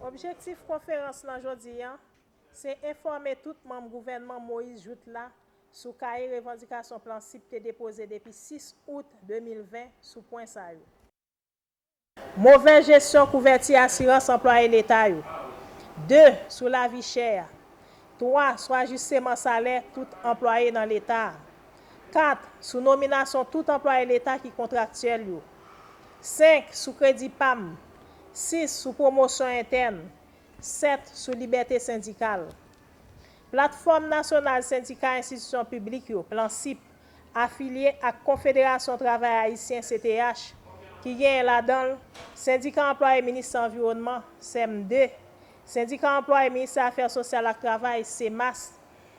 Objektif konferans lan jodi a, se enfòme tout manm gouvènman Moïse-Jouthe la sou kaye revandikasyon Plan CIP te depoze depi 6 out 2020 sou pwen sa yo. Movèz jesyon kouvèti asirans anplwaye leta yo. 2, sou lavi chè a. 3, sou ajisteman salè tout anplwaye nan leta a. 4, Sou nominasyon tout anplwaye leta ki kontraktyèl yo. 5, Sou kredi pam. 6, Sou pwomosyon entèn. 7, Sou libète sendikal. Platfòm Nasyonal Sendika Enstitisyon Piblik yo, Plansip, afilye ak Konfederasyon Travay Ayisyen, CTH, ki genyen ladan l, Sendika Anplwaye Ministè Anviwònman, Cemde, Sendika Anplwaye Ministè Afè Sosyal ak Travay, Cemast,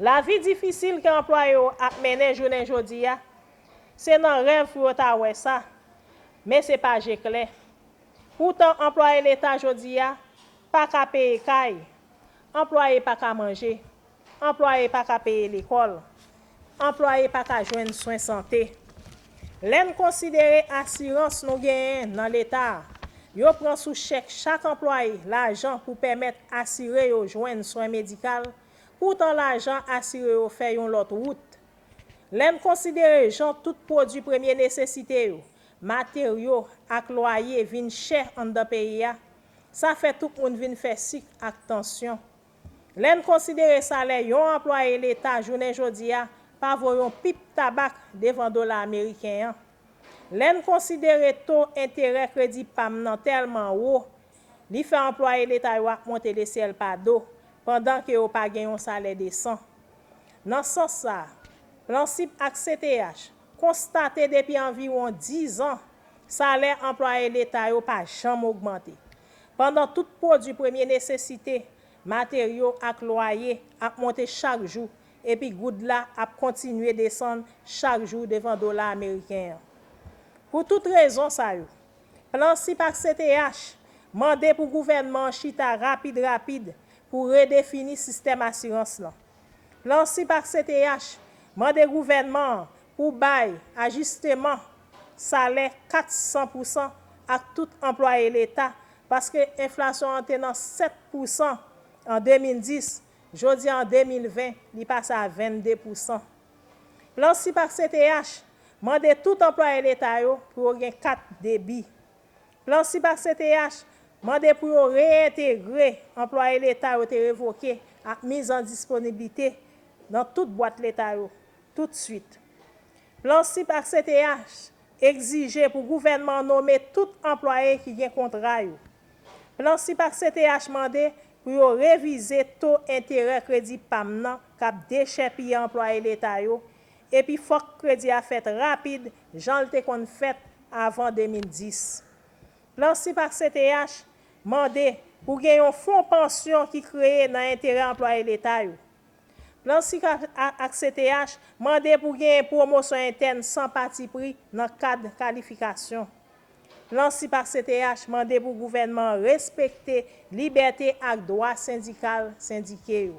Lavi difisil ke anplwaye yo ap mennen jounen jodi a, se nan rèv pou yo ta wè sa, men se pa je klè. Poutan anplwaye leta jodi a pa ka peye kay, anplwaye pa ka manje, anplwaye pa ka peye lekòl, Anplwaye pa ka jwenn swen sante. Lè n konsidere asirans nou genyen nan Leta a, yo pran sou chèk chak anplwaye lajan pou pèmèt asire yo jwenn swen medikal, poutan lajan asire yo fè yon lòt wout. Lè n konsidere jan tout pwodui premye nesesite yo, materyo ak lwaye vin chè anndan peyi a, sa fè tout moun vin fè sik ak tansyon. Lè n konsidere salè yon anplwaye leta jounen jodi a pa vo yon pip tabak devan dola ameriken an. Lè n konsidere to enterè kredi pa m nan tèlman wo, li fè anplwaye leta yo ap monte de syèl pa do, pandan ke yo pa gen yon salè desan. Nan sans sa, Plansip ak CTH konstate depi anviwon dizan, salè anplwaye leta yo pa janm ogmante. Pandan tout pwodui premye nesesite, materyo ak lwaye ap monte chak jou epi goud la ap kontinye desann chak jou devan dola ameriken an. Pou tout rezon sa yo, Plansip ak CTH mande pou gouvènman an chita rapid rapid pou redefini sistèm asirans lan. Plan sip ak CTH mande gouvènman an pou bay ajisteman salè 400 pousan ak tout anplwaye leta paske enflasyon an te nan 7 pousan an 2010, jodi a an 2020 li pase a 22 pousan. Plan sip ak CTH mande tout anplwaye leta yo pou yo gen kat debi. Plan sip ak CTH mande pou yo reyentegre anplwaye leta yo te revoke ak miz an disponiblite nan tout bwat leta yo tout swit. Plan sip ak CTH egzije pou gouvènman an nome tout anplwaye ki gen kontra yo. Plan sip ak CTH mande pou yo revize to enterè kredi pam nan k ap dechèpiye anplwaye leta yo Epi fòk kredi a fèt rapid jan l te konn fèt avan 2010. Plan sip ak CTH mande pou gen yon fon pansyon ki kreye nan enterè anplwaye leta yo. Plan sip ak CTH mande pou genyen pwomosyon entèn san patipri nan kad kalifikasyon. Plan sip ak CTH mande pou gouvènman an respekte libète ak dwa sendikal sendike yo.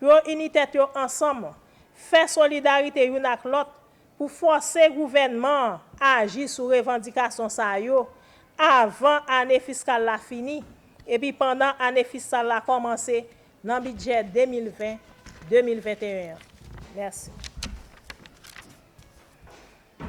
yo ini tèt yo ansanm, fè solidarite youn ak lòt pou fòse gouvènman an aji sou revandikasyon sa yo avan ane fiskal la fini epi pandan ane fisal la kòmanse nan bidjè 2020, 2021 an. Mèsi.